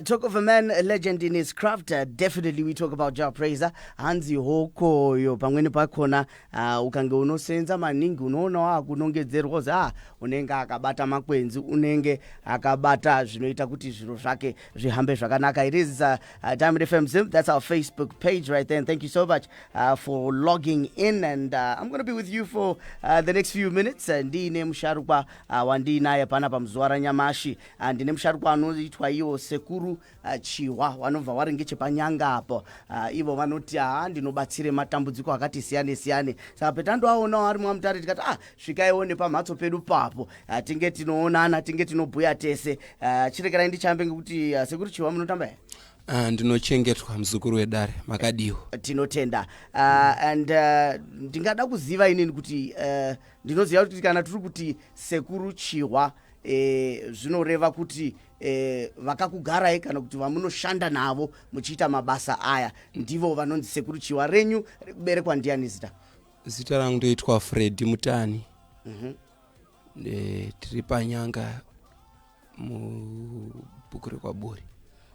Uh, talk of a man, a legend in his craft. Uh, definitely, we talk about Jah Prayzah. Hanzi hokoyo pamweni pakona uh, ukange unosenza maningi unoona wakunongedzerwa kuzi ah, unenge akabata makwenzi unenge akabata zvinoita kuti zviro zvake zvihambe zvakanaka. It is uh, uh, Diamond FM Zim. That's our Facebook page right there. And thank you so much uh, for logging in. And uh, I'm going to be with you for uh, the next few minutes. Uh, ndiine musharukwa Ah, wandiinaye panapa muzuva ranyamashi ah, ndine musharukwa anoitwa iwo sekuru ah, chihwa wanobva wari ngechepanyanga apo ah, ivo vanoti haa ndinobatsire matambudziko akati siyane siyane saka petandoaonawo ari mwamutare tikati ah svikaiwo nepamhatso pedu papo ah, tinge tinoonana tinge tinobhuya tese ah, chirekerai ndichambe ngekuti ah, sekuru chihwa munotamba here Ah, ndinochengetwa muzukuru wedare makadiwo tinotenda uh, and uh, ndingada kuziva inini kuti uh, ndinoziva kuti kana tiri kuti sekuru chihwa e, zvinoreva kuti e, vakakugarai kana kuti vamunoshanda navo muchiita mabasa aya ndivo vanonzi sekuru chihwa renyu rekuberekwa ndiyani zita zita rangu ndoitwa fredi mutani mm -hmm. e, tiri panyanga mubhuku rekwaburi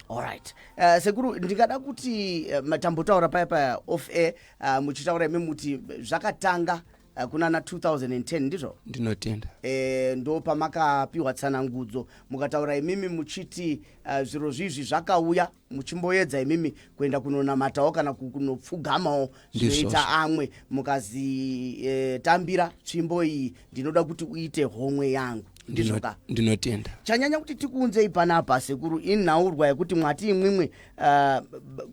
allright uh, eh, sekuru ndingada kuti uh, eh, matambotaura paya paya off air uh, muchitaura imi muti zvakatanga Eh, kuna na 2010 ndizvo ndinotenda e, ndo pamakapiwa tsanangudzo mukataura imimi muchiti uh, zviro zvizvi zvakauya muchimboedza imimi kuenda kunonamatawo kana kunopfugamawo zvinoita amwe mukazitambira eh, e, tsvimbo iyi ndinoda kuti uite homwe yangu ndizvoka ndinotenda chanyanya kuti tikuunzei panapa sekuru inhaurwa yekuti mwati imwimwe uh,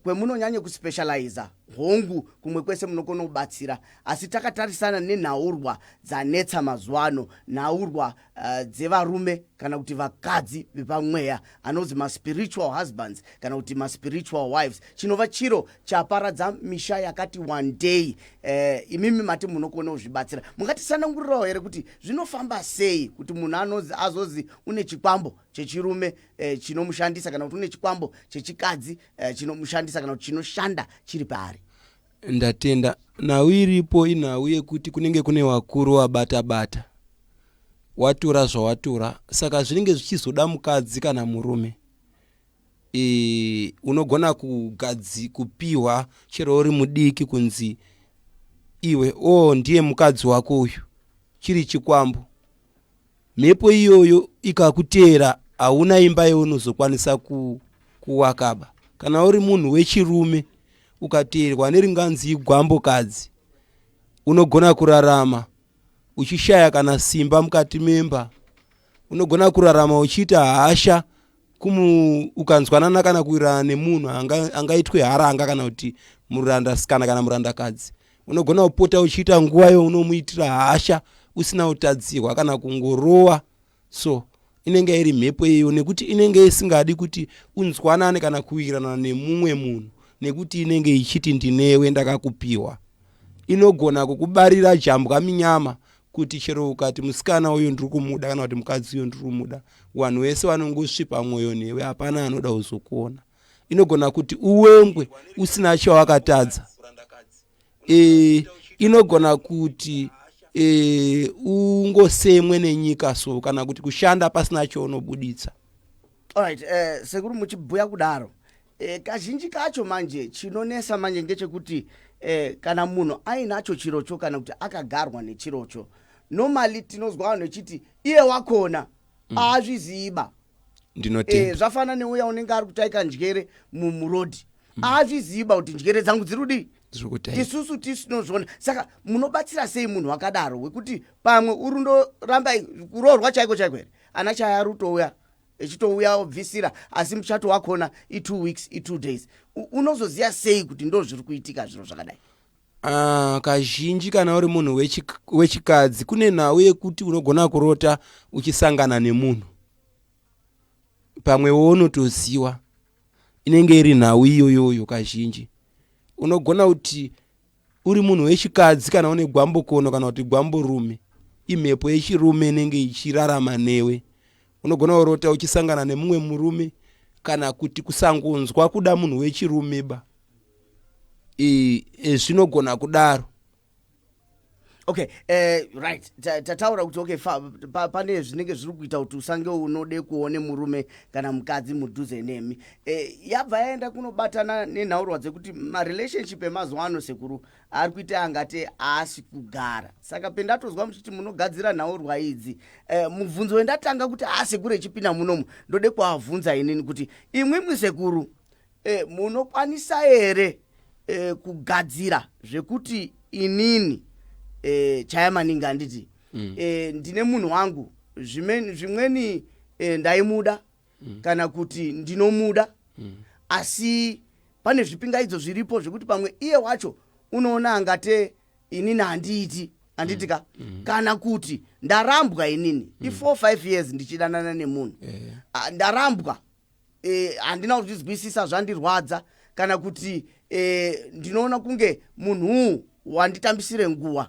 kwemunonyanye kuspecializa hongu kumwe kwese munokona kubatsira Asi takatarisana nenhaurwa dzanetsa mazuva ano, nhaurwa uh, dzevarume kana kuti vakadzi vepamweya, anonzi maspiritual husbands kana kuti maspiritual wives, chinova chiro chaparadza misha yakati wandei. Uh, imimi mati munokona kuzvibatsira, mungatisanangurirawo here kuti zvinofamba sei kuti munhu anonzi azozi une chikwambo chechirume uh, chinomushandisa kana kuti une chikwambo chechikadzi uh, chinomushandisa kana kuti chinoshanda chiri paari? ndatenda nhau iripo inhau yekuti kunenge kune vakuru wabata bata watura zvawatura saka zvinenge zvichizoda mukadzi kana murume e, unogona kugadzi kupiwa chero uri mudiki kunzi iwe o oh, ndiye mukadzi wako uyu chiri chikwambo Mhepo iyoyo ikakuteera hauna imba yeunozokwanisa ku, kuwakaba. Kana uri munhu wechirume ukateerwa neringandzi igwambokadzi unogona kurarama uchishaya kana simba mukati memba. Unogona kurarama uchiita hasha kumu ukanzwanana kana kuwirirana nemunhu angaitwe anga haranga kana kuti muranda sikana kana murandakadzi unogona kupota uchiita nguva yo unomuitira hasha usina utadzihwa kana kungorowa so inenge iri mhepo iyo nekuti inenge isingadi kuti unzwanane kana kuwirirana nemumwe munhu nekuti inenge ichiti ndinewe ndakakupiwa inogona kukubarira jambwa minyama kuti chero ukati musikana uyo ndiri kumuda kana kuti mukadzi uyo ndiri kumuda vanhu vese vanongosvipa mwoyo newe hapana anoda kuzokuona inogona kuti uwengwe usina chawakatadza e, inogona kuti e, ungosemwe nenyika so kana kuti kushanda pasina chounobuditsa right, eh, sekuru muchibhuya kudaro E, kazhinji kacho manje chinonesa manje ngechekuti e, kana munhu ainacho chirocho kana kuti akagarwa nechirocho normally tinozwa vanhu vechiti iye wakona mm. aazviziiba mm ndinotenda eh, zvafana neuya unenge ari kutaika njere murodi mm. azviziva kuti njere dzangu dziri kudii tisusu tisinozvona saka munobatsira sei munhu wakadaro wekuti pamwe urundoramba kuroorwa chaiko chaiko here ana chaya rutouya echitouya obvisira asi muchato wakona itwo weeks itwo days unozoziva sei kuti ndo zviri kuitika zviro zvakadai Uh, kazhinji kana uri munhu wechikadzi kune nhau yekuti unogona kurota uchisangana nemunhu pamwe woonotoziwa inenge iri nhau iyoyoyo kazhinji unogona kuti uri munhu wechikadzi kana une gwambokono kana kuti gwamborume imhepo yechirume inenge ichirarama newe unogona kurota uchisangana nemumwe murume kana kuti kusangonzwa kuda munhu wechirume ba e, e, zvinogona kudaro okay eh, right tataura kuti okay pane zvinenge zviri kuita kuti usange unode kuone murume kana mukadzi mudhuze nemi eh, yabva yaenda kunobatana nenhaurwa dzekuti marelationship emazuva ano sekuru ari kuita angati aasi kugara saka pendatozwa muchiti munogadzira nhaurwa idzi eh, mubvunzo wendatanga kuti aasekuru echipinda munomu ndode kuavhunza inini kuti imwimwi sekuru e, munokwanisa here e, kugadzira zvekuti inini e, chaya maningi handiti mm. e, ndine munhu wangu zvimweni e, ndaimuda mm. kana kuti ndinomuda mm. asi pane zvipingaidzo zviripo zvekuti pamwe iye wacho unoona angate inini handiiti handiti ka mm. mm. kana kuti ndarambwa inini mm. i4 5 years ndichidanana nemunhu yeah. ndarambwa eh, handina kuzvizwisisa zvandirwadza kana kuti eh, ndinoona kunge munhuu wanditambisire nguva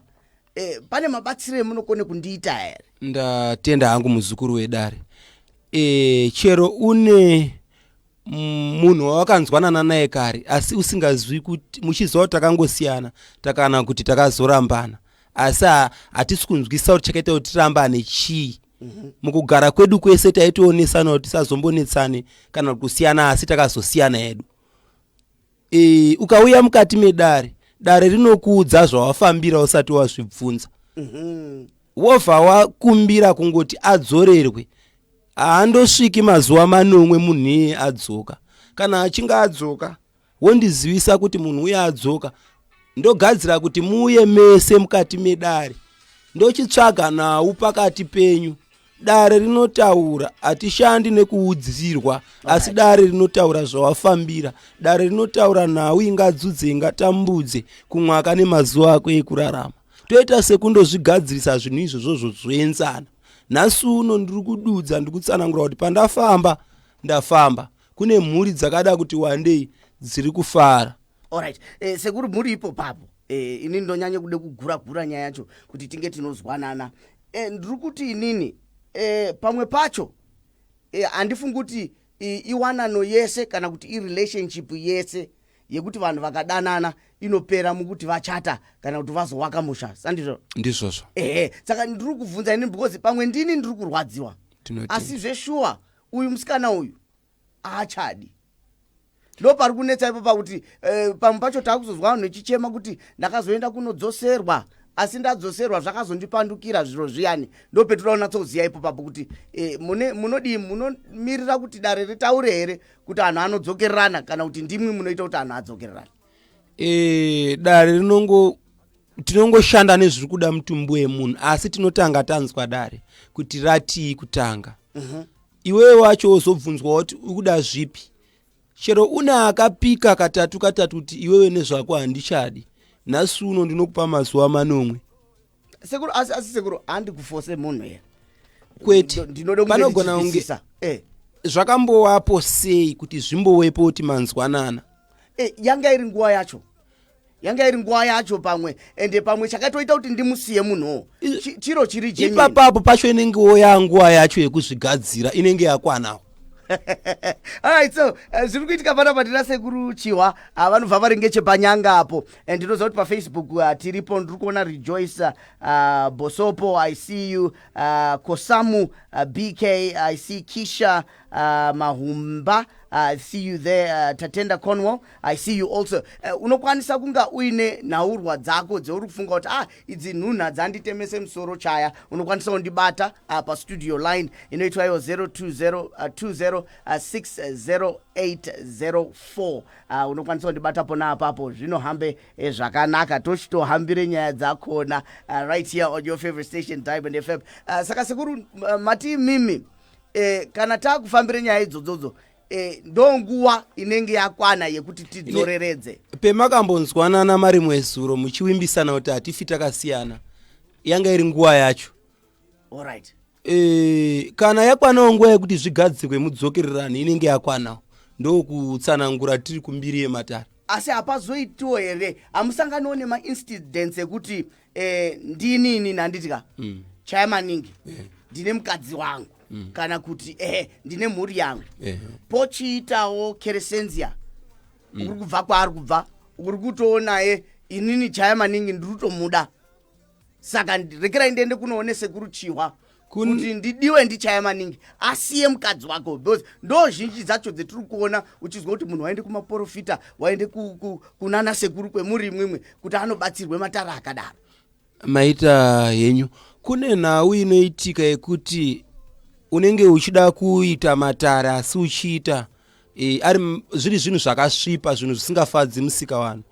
eh, pane mabatsiro emunokone kundiita here ndatenda hangu muzukuru wedare e, chero une mm, munhu wawakanzwanana naye kare asi usingazwi kuti muchiziva kuti takangosiyana takana kuti takazorambana asi ha- hatisi kunzwisisa kuti chakaita kuti tirambane chii mm-hmm. mukugara kwedu kwese taitionesana kuti tisazombonetsane kana kusiyana asi takazosiyana hedu e, ukauya mukati medare dare rinokuudza zvawafambira usati wazvibvunza mm-hmm. wobva wakumbira kungoti adzorerwe haandosviki mazuva manomwe munhu iye adzoka kana achinge adzoka wondizivisa kuti munhu uye adzoka ndogadzira kuti muuye mese mukati medare ndochitsvaga nhau pakati penyu dare rinotaura hatishandi nekuudzirwa asi dare rinotaura zvawafambira dare rinotaura nhau ingadzudze ingatambudze kumwaka nemazuva ako ekurarama toita sekundozvigadzirisa zvinhu izvozvo zvozoenzana nhasi uno ndiri kududza ndiri kutsanangura kuti pandafamba ndafamba kune mhuri dzakada kuti wandei dziri kufara orit eh, sekuru mhuri ipo papo eh, ini ndonyanye kude kugura gura nyaya yacho kuti tinge tinozwanana eh, ndiri kuti inini eh, pamwe pacho eh, handifungi eh, kuti eh, iwanano yese kana kuti irelationship yese yekuti vanhu vakadanana inopera mukuti vachata kana kuti vazowaka musha sandizvo ndizvozvo ehe saka ndiri kubvunza ini because pamwe ndini ndiri kurwadziwa asi zveshuwa uyu musikana uyu aachadi ndo pari kunetsa ipo pakuti eh, pamwe pacho taakuzozwa vanhu vechichema kuti ndakazoenda kunodzoserwa asi ndadzoserwa zvakazondipandukira zviro zviyani ndo petuda kunatsoziva ipo papo kuti eh, munodii munomirira kuti dare ritaure here kuti anhu anodzokererana kana kuti ndimwi munoita kuti anhu adzokererana e, dare rinongo tinongoshanda nezviri kuda mutumbi wemunhu asi tinotanga tanzwa dare kuti ratii kutanga uh mhm. -huh. iwewe wacho wozobvunzwa kuti ukuda zvipi chero une akapika katatu katatu kuti iwewe nezvako handichadi nhasi uno ndinokupa mazuva manomwe sekuru asi asi sekuru handi kufose munhu here kwete ndinoda panogona kunge eh. zvakambowapo sei kuti zvimbowepo kuti manzwanana eh, yanga iri nguva yacho yanga iri nguva yacho pamwe ende pamwe chakatoita kuti ndimusiye munhuwo chiro chiri ipapapo pacho inengewo yanguva yacho yekuzvigadzira inenge yakwanawo alright so eh, zviri kuitika pano apa ndina sekuru chihwa ah, vanobva vari ngechepanyanga apo and ndinoziva kuti pafacebook ah, tiripo ndiri kuona rejoice ah, bosopo i see you ah, kosamu ah, bk i see kisha ah, mahumba I see you there uh, tatenda cornwall i see you also uh, unokwanisa kunga uine nhaurwa dzako dzeuri kufunga kuti ah idzi nhunhu hadzanditemese musoro chaya unokwanisa kundibata ah, pastudio line inoitwa iyo 02060804 ah, uh, unokwanisa kundibata pona apapo zvinohambe eh, zvakanaka tochitohambire nyaya dzakona uh, right here on your favorite station diamond fm uh, saka sekuru uh, mati mimi eh, kana taakufambire nyaya idzodzodzo eh, ndonguva inenge yakwana yekuti tidzoreredze pemakambonzwanana mari mwezuro muchiwimbisana kuti hatifi takasiyana yanga iri nguva yacho right. e, eh, kana yakwanawo nguva yekuti zvigadzirwe mudzokererano inenge yakwanawo ndokutsanangura tiri kumbiri yematare asi hapazoitiwo here hamusanganiwo nemaincidents ekuti eh, ndini ini nhanditi ka mm. chaya maningi yeah. ndine mukadzi wangu mm. kana kuti eh, ndine mhuri yangu yeah. pochiitawo keresenzia mm. ukuri kubva kwaari kubva ukuri kutoonaye inini chaya maningi ndiri kutomuda saka rekerai ndiende kunoone sekuru chihwa kuti ndidiwe ndichaya maningi asiye mukadzi wako because ndo zhinji dzacho dzetiri kuona uchizwa kuti munhu waende kumaporofita waende kunana sekuru kwemuri imwimwe kuti anobatsirwe matara akadaro maita henyu kune nhau inoitika yekuti unenge uchida kuita matara asi uchiita e, ari zviri zvinhu zvakasvipa zvinhu zvisingafadzi musika vanhu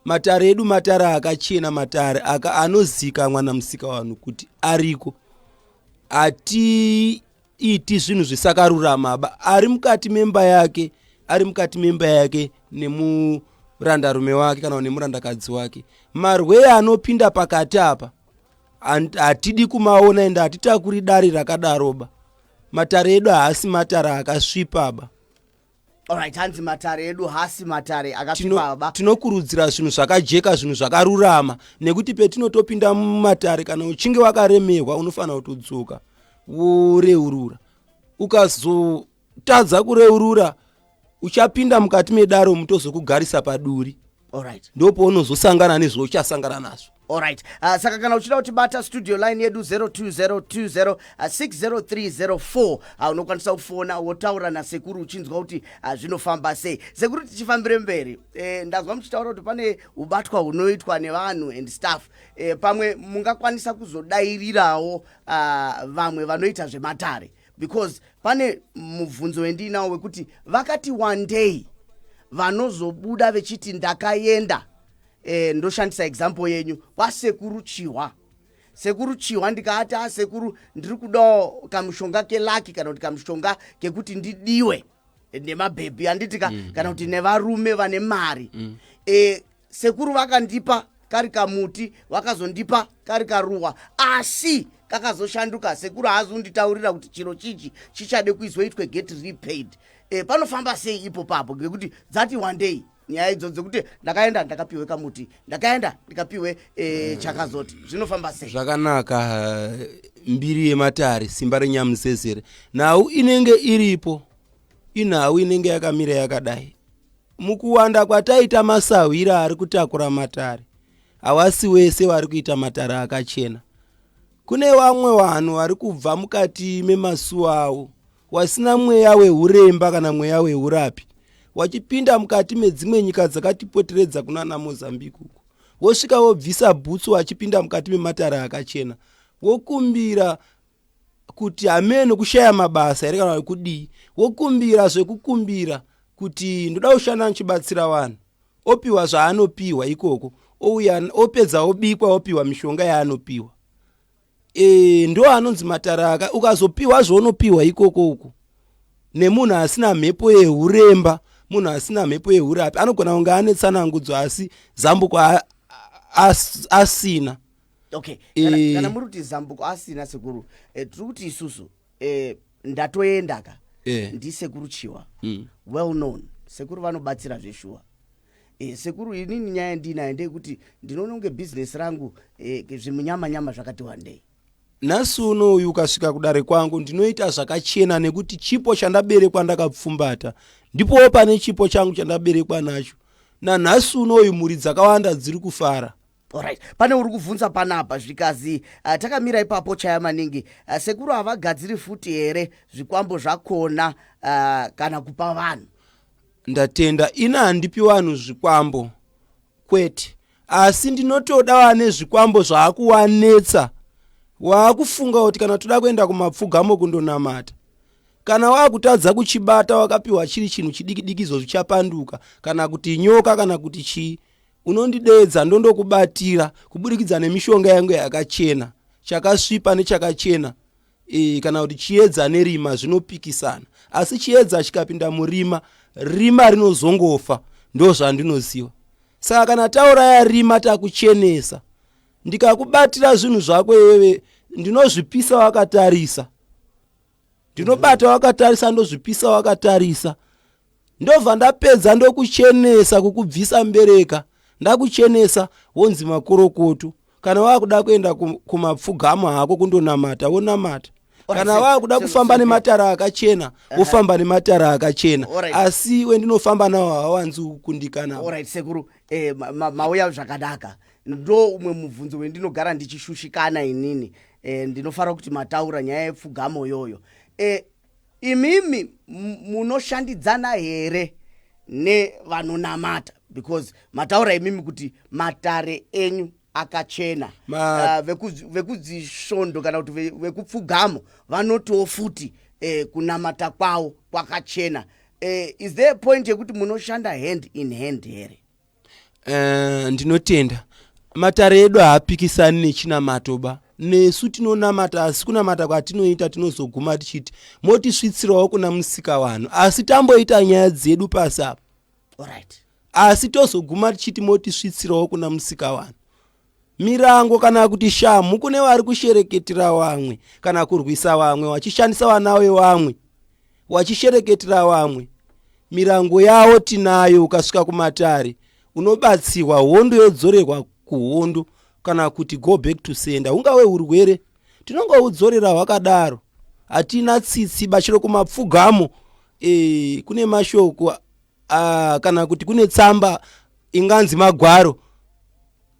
matare edu matare akachena matare aka anozikamwa namusika vanhu kuti ariko hatiiti zvinhu zvisakaruramaba ari mukati memba yake ari mukati memba yake nemurandarume wake kana nemurandakadzi wake marwee anopinda pakati apa hatidi kumaona ende hatitakuri dare rakadaroba matare edu haasi matare akasvipaba Alright, hanzi matare edu hasi matare akapfibaba. Tinokurudzira zvinhu zvakajeka, zvinhu zvakarurama nekuti petinotopinda mumatare kana uchinge wakaremerwa unofanira kutodzoka woreurura. Ukazotadza kureurura uchapinda mukati medaro mutozokugarisa paduri. Alright. Ndipo paunozosangana nezvauchasangana nazvo. Alright. Uh, saka kana uchida kutibata studio line yedu 0202060304 uh, unokwanisa kufona wotaura nasekuru uchinzwa kuti uh, zvinofamba sei. Sekuru tichifambire mberi. Eh, ndazwa muchitaura kuti pane ubatwa hunoitwa nevanhu and staff. Eh, pamwe mungakwanisa kuzodairirawo uh, vamwe vanoita zvematare. because pane mubvunzo wendiinawo wekuti vakati wandei vanozobuda vechiti ndakaenda eh, ndoshandisa example yenyu kwasekuru chihwa sekuru chihwa ndikaati asekuru ah, ndiri kudawo kamushonga kelaki kana kuti kamushonga kekuti ndidiwe nemabhebhi handiti ka mm. kana kuti nevarume vane mari mm. e, sekuru vakandipa kari kamuti vakazondipa kari karuwa asi kakazoshanduka sekuru haazonditaurira kuti chiro chichi chichade kuizoitwe get repaid e, panofamba sei ipo papo ngekuti dzati wandei nyaya idzo dzekuti ndakaenda ndakapiwe kamuti ndakaenda ndikapiwe e, chakazoti zvinofamba sei zvakanaka eh, mbiri yematare simba renyamusesere nhau inenge iripo inhau inenge yakamira yakadai mukuwanda kwataita masahwira ari kutakura matare hawasi wese wari kuita matare akachena kune vamwe vanhu vari kubva mukati memasuwa avo wasina mweya wehuremba kana mweya wehurapi wachipinda mukati medzimwe nyika dzakatipoteredza kunana mozambique uko wosvika wobvisa bhutsu wachipinda mukati mematare akachena wokumbira kuti hameno kushaya mabasa here kana kudii wokumbira zvekukumbira kuti ndoda kushanda ndichibatsira vanhu opiwa zvaanopiwa ikoko ouya opedza obikwa opiwa mishonga yaanopiwa e, ndo anonzi mataraka ukazopiwa zvaunopiwa ikoko uku nemunhu asina mhepo yehuremba munhu asina mhepo yehurapi anogona kunge ane tsanangudzo asi zambuko asina okay e, kana muri kuti zambuko asina sekuru e, tiri kuti isusu e, ndatoendaka e. ndisekuru chiwa mm. well known sekuru vanobatsira zveshuwa E, sekuru inini nyaya yandiinayo ndeyekuti ndinoona kunge bhizinesi rangu e, zvimunyamanyama zvakati wandei nhasi uno uyu ukasvika kudare kwangu ndinoita zvakachena nekuti chipo chandaberekwa ndakapfumbata ndipowo pane chipo changu chandaberekwa nacho nanhasi uno uyu mhuri dzakawanda dziri kufara Alright, pane uri kuvhunza panapa zvikazi uh, takamira ipapo chaya maningi uh, sekuru havagadziri futi here zvikwambo zvakona uh, kana kupa vanhu ndatenda ina handipi vanhu zvikwambo kwete asi ndinotoda vane zvikwambo zvaakuwanetsa waakufunga kuti kana toda kuenda kumapfugamo kundonamata kana waakutadza kuchibata wakapiwa chiri chinhu chidikidiki izvo zvichapanduka kana kuti nyoka kana kuti chii unondideedza ndondokubatira kuburikidza nemishonga yangu yakachena chakasvipa nechakachena e, kana kuti chiedza nerima zvinopikisana asi chiedza chikapinda murima rima rinozongofa ndo zvandinoziva saka kana tauraya rima takuchenesa ndikakubatira zvinhu zvako iwewe ndinozvipisa wakatarisa ndinobata wakatarisa ndozvipisa wakatarisa ndobva ndapedza ndokuchenesa kukubvisa mbereka ndakuchenesa wonzi makorokoto kana wakuda kuenda kumapfugama hako kundonamata wonamata kana wakuda kufamba nematara akachena wofamba nematara akachena asi wendinofamba nawo hawanzi kukundikana sekuru eh, mauya zvakanaka ndo umwe mubvunzo wendinogara ndichishushikana inini e, ndinofarira kuti mataura nyaya yepfugamo yoyo e, eh, imimi munoshandidzana here nevanonamata because mataura imimi kuti matare enyu akachena Ma... uh, vekudzisvondo kana kuti vekupfugamo vanotiwo futi eh, kunamata kwawo kwakachena eh, is there a point yekuti munoshanda hand in hand here Eh, ndinotenda matare edu haapikisani nechinamato ba nesu tinonamata asi kunamata kwatinoita tinozoguma tichiti motisvitsirawo kuna musika vanhu asi tamboita nyaya dzedu pasi apa asi tozoguma tichiti motisvitsirawo kuna musika vanhu Mirango kana kuti shamhu kune vari kushereketera vamwe kana kurwisa vamwe vachishandisa vana vevamwe vachishereketera vamwe mirango yavo tinayo ukasvika kumatare unobatsirwa hondo yodzorerwa kuhondo kana kuti go back to sender ungave urwere tinongoudzorera hwakadaro hatina tsitsi bachiro kumapfugamo e, kune mashoko uh, kana kuti kune tsamba inganzi magwaro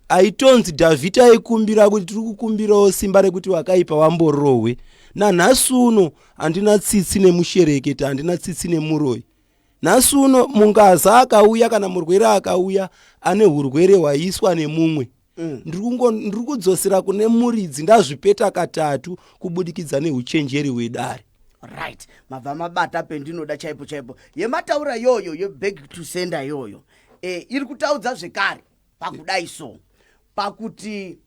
aitonzi dhavhidhi aikumbira kuti tiri kukumbirawo simba rekuti vakaipa vamborohwe nanhasi uno handina tsitsi nemushereketi handina tsitsi nemuroi nhasi uno mungaza akauya kana murwere akauya ane urwere hwaiswa nemumwe mm. ndiri kudzosera kune muridzi ndazvipeta katatu kubudikidza neuchenjeri wedare right mabva mabata pendinoda chaipo chaipo yemataura yoyo yebag to sender yoyo e, iri kutaudza zvekare pakudai so pakuti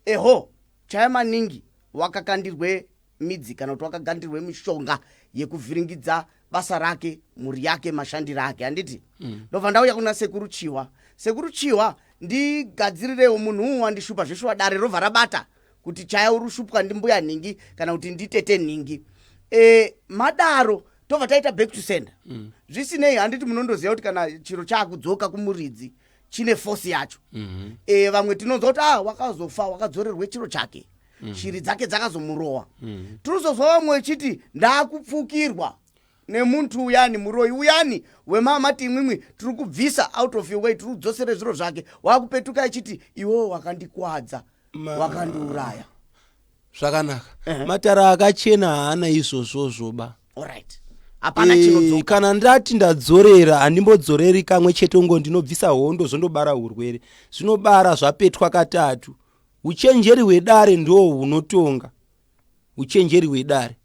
eho chaya maningi wakakandirwe midzi kana kuti wakagandirwe mishonga yekuvhiringidza basa rake mhuri yake mashandiro ake handiti mm. ndobva ndauya kuna sekuru chiwa sekuru chiwa ndigadzirirewo munhu uwu wandishupa zveshuwa dare robva rabata kuti chaya urushupwa ndimbuya nhingi kana kuti nditete nhingi e, madaro tobva taita back to sender mm. zvisinei handiti munondoziva kuti kana chiro chaakudzoka kumuridzi chine force yacho mm -hmm. e, vamwe tinonzwa kuti ah wakazofa wakadzorerwe chiro chake mm. shiri dzake dzakazomurowa mm. tinozozwa vamwe vechiti ndaakupfukirwa nemuntu uyani muroyi uyani wemama timwimwi tiri kubvisa out of your way tiri kudzosere zviro zvake wakupetuka achiti iwewo wakandikwadza wakandiuraya zvakanaka uh -huh. matara akachena haana izvozvozvoba allright hapana eh, chinodzoka kana ndati ndadzorera handimbodzoreri kamwe chete ngo ndinobvisa hondo zvondobara urwere zvinobara zvapetwa katatu Uchenjeri hwedare ndoo hunotonga uchenjeri hwedare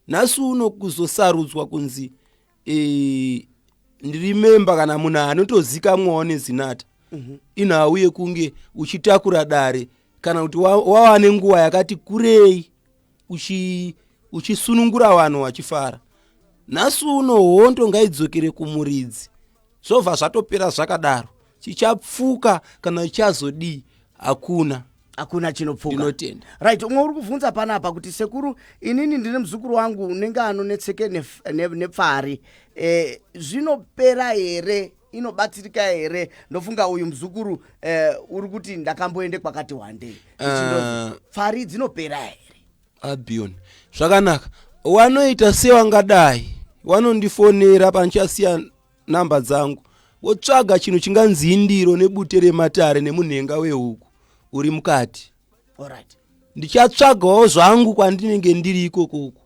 nhasi uno kuzosarudzwa kunzi e, ndirimemba kana munhu anotozikamwawo nezinata mm -hmm. inhau yekunge uchitakura dare kana kuti wawane wa nguva yakati kurei uchi uchisunungura vanhu vachifara nhasi uno hondo ngaidzokere kumuridzi zvobva zvatopera zvakadaro chichapfuka kana chichazodii hakuna hakuna chinopfuka ndinotenda right umwe uri kuvhunza panapa kuti sekuru inini ndine muzukuru wangu unenge anonetseke nef- ne- nepfari eh, zvinopera here inobatsirika here ndofunga uyu muzukuru uh, uri kuti ndakamboende kwakati wandei uh, pfari dzinopera here abion zvakanaka wanoita sewangadai wanondifonera pandichasiya namba dzangu wotsvaga chinhu chinganzi indiro nebute rematare nemunhenga wehuku uri mukati right. ndichatsvagawo zvangu kwandinenge ndiri ikokoko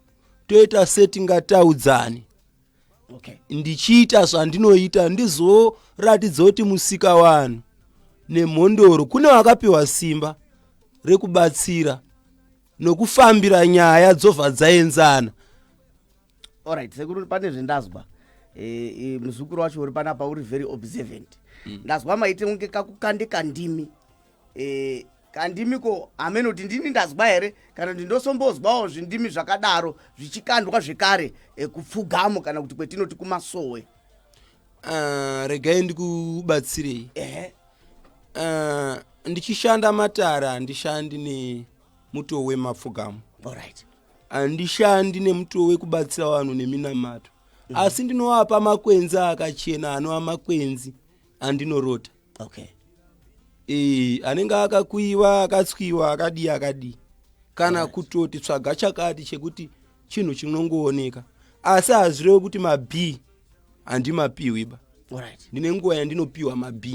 toita setingataudzani okay. ndichiita zvandinoita ndizoratidza kuti musika vanhu nemhondoro kune vakapiwa simba rekubatsira nokufambira nyaya dzobva dzaenzana orit sekuru pane zvendazwa e, e, muzukuru wacho uri panapa uri very observant mm. ndazwa maite kunge kakukandika ndimi e, kandimi ko hameno kuti ndini ndazwa here kana kuti ndosombozwawo zvindimi zvakadaro zvichikandwa zvekare e, kupfugamo kana kuti kwetinoti kumasowe uh, regai ndikubatsirei uh, ndichishanda matare handishandi nemutowo wemapfugamo right. handishandi nemutowo wekubatsira vanhu neminamato mm -hmm. asi ndinovapa makwenzi akachena anova makwenzi andinorota okay e, anenge akakuiva akatswiwa akadii akadii kana right. kutoti tsvaga chakati chekuti chinhu chinongooneka asi hazvirevi kuti mab handimapiwi ba right. ndine nguva yandinopiwa mab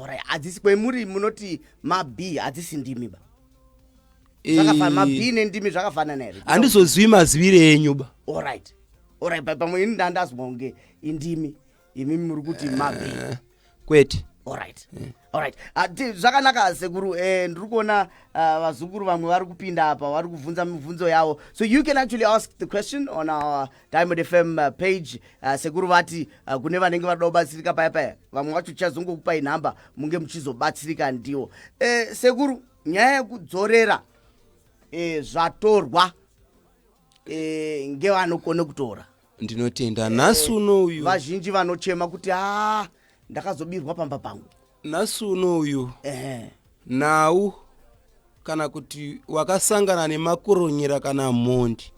right. hadzisi kwemuri munoti mab hadzisi ndimi ba zvakafanana mab nendimi zvakafanana here handizozivi mazivire enyu ba right. right. pamwe ini ndandazwa kunge indimi imi muri kuti mabe eh, kwete orit orit ah, zvakanaka sekuru eh, ndiri kuona ah, vazukuru vamwe vari kupinda apa vari kubvunza mibvunzo yavo so you can actually ask the question on our diamond fm ah, page sekuru vati kune vanenge vanoda kubatsirika paya paya vamwe vacho tichazongokupai nhamba munge muchizobatsirika ndiwo eh, sekuru nyaya yekudzorera zvatorwa ngevanokone kutora ndinotenda nhasi uno uyu vazhinji vanochema kuti a ndakazobirwa pamba pangu nhasi uno uyu ehe nhau kana kuti wakasangana nemakuronyera kana mhondi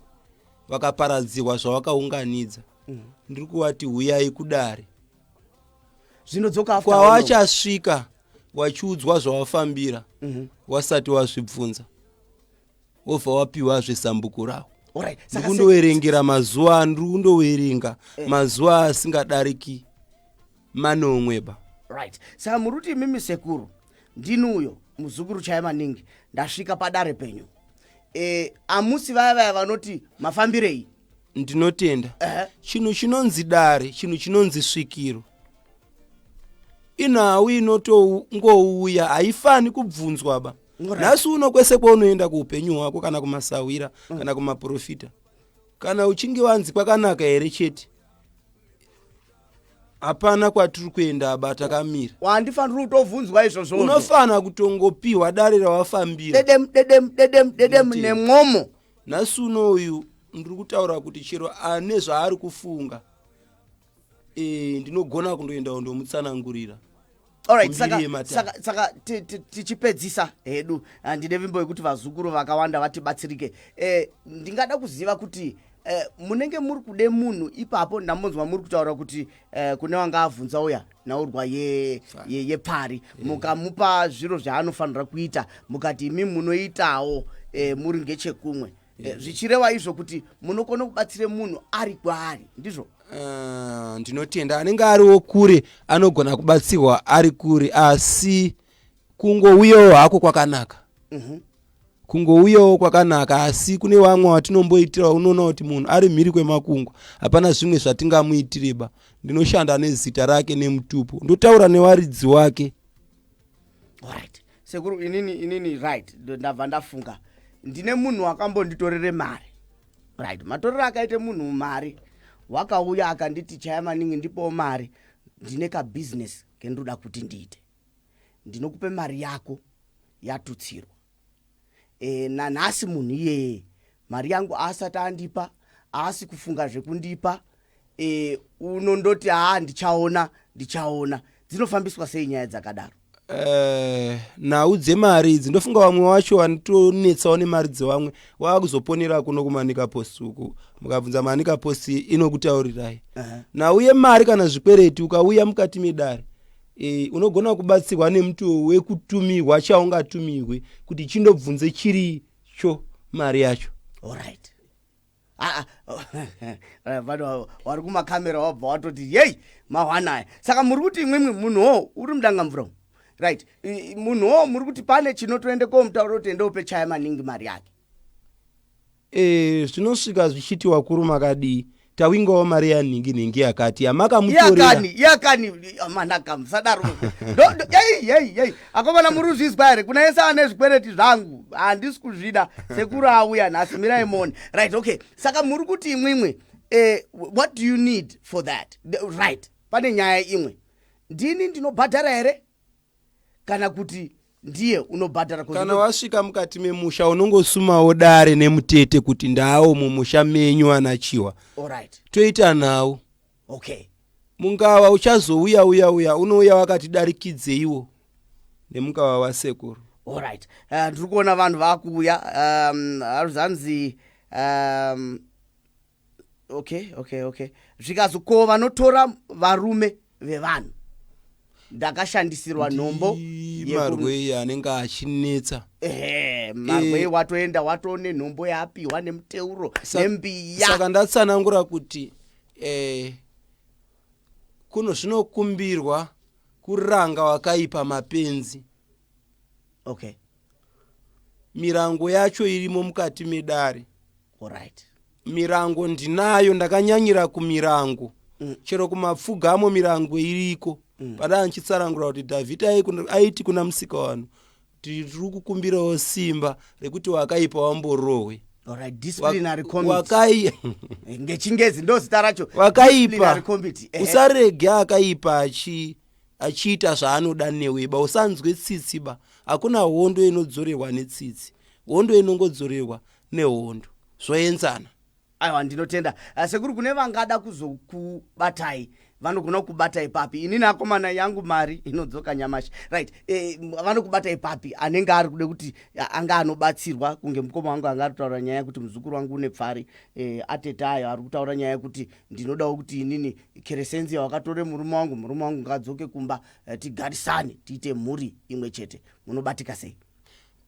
vakaparadzirwa zvawakaunganidza ndiri kuvati huyai kudare zvinodzoka after how long? kwawachasvika wachiudzwa zvawafambira wasati wazvibvunza wobva wapiwazve zambuko rawo ndikundoverengera mazuva andiri kundoverenga eh. mazuva asingadariki manomweba right saka muri kuti imimi sekuru ndini uyo muzukuru chaya maningi ndasvika padare penyu e, amusi vaya vaya vanoti mafambirei ndinotenda uh -huh. chinhu chinonzi dare chinhu chinonzi svikiro inhau inotongouya haifani kubvunzwa ba nhasi uno kwese kwaunoenda kuupenyu hwako kana kumasahwira mm. kana kumaprofita kana uchinge wanzi kwakanaka here chete hapana kwatiri kuenda aba takamira wandifanira kutobvunzwa izvozvo unofanira kutongopiwa dare rawafambira dedemu nemwomo nhasi uno uyu ndiri kutaura kuti chero ane zvaari kufunga eh, ndinogona kundoendawo ndomutsanangurira Alright, Kumbiri saka, yematare. saka, saka ti- ti- tichipedzisa hedu ah, ndine vimbo yekuti vazukuru vakawanda vatibatsirike eh, ndingada kuziva kuti eh, munenge muri kude munhu ipapo ndambonzwa muri kutaura kuti eh, kune wanga avhunza uya nhaurwa ye- ye- yepfari mukamupa zviro zvaanofanira kuita mukati imi munoitawo eh, muri ngechekumwe Eh, zvichireva izvo kuti munokona kubatsira munhu ari kwaari ndizvo eh, ndinotenda anenge ariwo kure anogona kubatsirwa ari kure asi kungouyawo hako kwakanaka mhm. kungouyawo kwakanaka asi kune vamwe vatinomboitira unoona kuti munhu ari mhiri kwemakungwa hapana zvimwe zvatingamuitireba ndinoshanda nezita rake nemutupo ndotaura newaridzi wake right sekuru inini inini right ndabva ndafunga ndine munhu wakambonditorere mari right matorero akaita munhu mari wakauya akanditi chaya maningi ndipowo mari ndine kabusiness kendoda kuti ndiite ndinokupe mari yako yatutsirwa e, nanhasi munhu iyeye mari yangu aasati andipa aasi kufunga zvekundipa e, unondoti haa ndichaona ndichaona dzinofambiswa sei nyaya dzakadaro Eh, nhau dzemari idzi ndofunga vamwe vacho vanotonetsawo nemari dzevamwe wava kuzoponera kuno kumanika post uku mukabvunza manika post inokutaurirai nhau yemari kana zvikwereti ukauya mukati medare e, unogona kubatsirwa nemutoo wekutumirwa chaungatumirwe kuti chindobvunze chiricho mari yacho orit ah, ah, eh, vanhu wari kumakamera wabva watoti yei mahwanaya saka muri kuti imwimwi munhuwo uri mudanga mvura right munhuwo muri kuti pane chinotoende komutaura kuti ende upe chaya maningi mari yake Eeh zvinosvika zvichiti wakuru makadii tawingawo mari yanhingi nhingi yakati yamakamutoreyakani yakani manaka musadaro ei ei ei akomana muri kuzvizwa here kuna yese ane zvikwereti zvangu handisi kuzvida sekuru auya nhasi mirai mone right okay saka muri kuti imwimwe eh, what do you need for that right pane nyaya imwe ndini ndinobhadhara here kana kuti ndiye unobhadhara kana wasvika mukati memusha unongosumawo dare nemutete kuti ndaawo mumusha menyu anachiwa right. toita nhau okay. mungava uchazouya uya uya unouya wakatidarikidzeiwo nemungava wasekuru orit eh, ndiri uh, kuona vanhu vakuuya um, aruzanzi um, okay okay okay zvikanzi ko vanotora varume vevanhu ndakashandisirwa nhombo marwei anenge achinetsa ehe marwei eh. watoenda watone nhombo yaapiwa nemuteuro nembiya saka ndatsanangura kuti eh, kuno zvinokumbirwa kuranga wakaipa mapenzi okay mirango yacho irimo mukati medare Alright. Mirango ndinayo ndakanyanyira kumirango. Mm. Chero kumapfugamo mirango iriko. Mm. Pada anchitsarangura kuti David aiti kuna musika wanu tiri kukumbirawo simba rekuti wakaipa wamborohwe. Alright, disciplinary committee. Wakai eh, ngechingezi ndozita racho. Wakaipa. Eh. Usarege akaipa achi achiita zvaanoda newe ba usanzwe tsitsi ba hakuna hondo inodzorerwa netsitsi hondo inongodzorerwa nehondo zvoenzana. Aiwa ndinotenda ah, sekuru kune vangada kuzokubatai vanogona kukubatai papi inini akomana yangu mari inodzoka nyamashi right e, vanokubatai papi anenge ari kuda kuti anga anobatsirwa kunge mukoma wangu anga ari kutaura nyaya yekuti muzukuru wangu une pfari e, atete ayo ari kutaura nyaya yekuti ndinodawo kuti inini keresenzi yawakatore murume wangu murume wangu ngaadzoke kumba e, tigarisane tiite mhuri imwe chete munobatika sei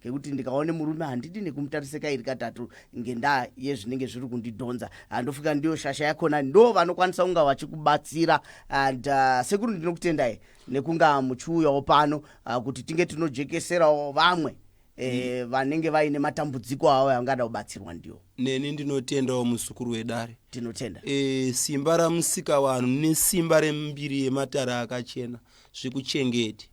ngekuti ndikaone murume handidi nekumutarisa kairi katatu ngendaa yezvinenge zviri kundidhonza ah, ndofunga ndiyo shasha yakona ndo vanokwanisa kunga vachikubatsira and uh, sekuru ndinokutendai nekunga muchiuyawo pano uh, kuti tinge tinojekeserawo vamwe eh, mm. vanenge vaine matambudziko avo avangada kubatsirwa ndiwo neni ndinotendawo muzukuru wedare tinotenda e, simba ramusika vanhu nesimba rembiri yematara akachena zvikuchengeti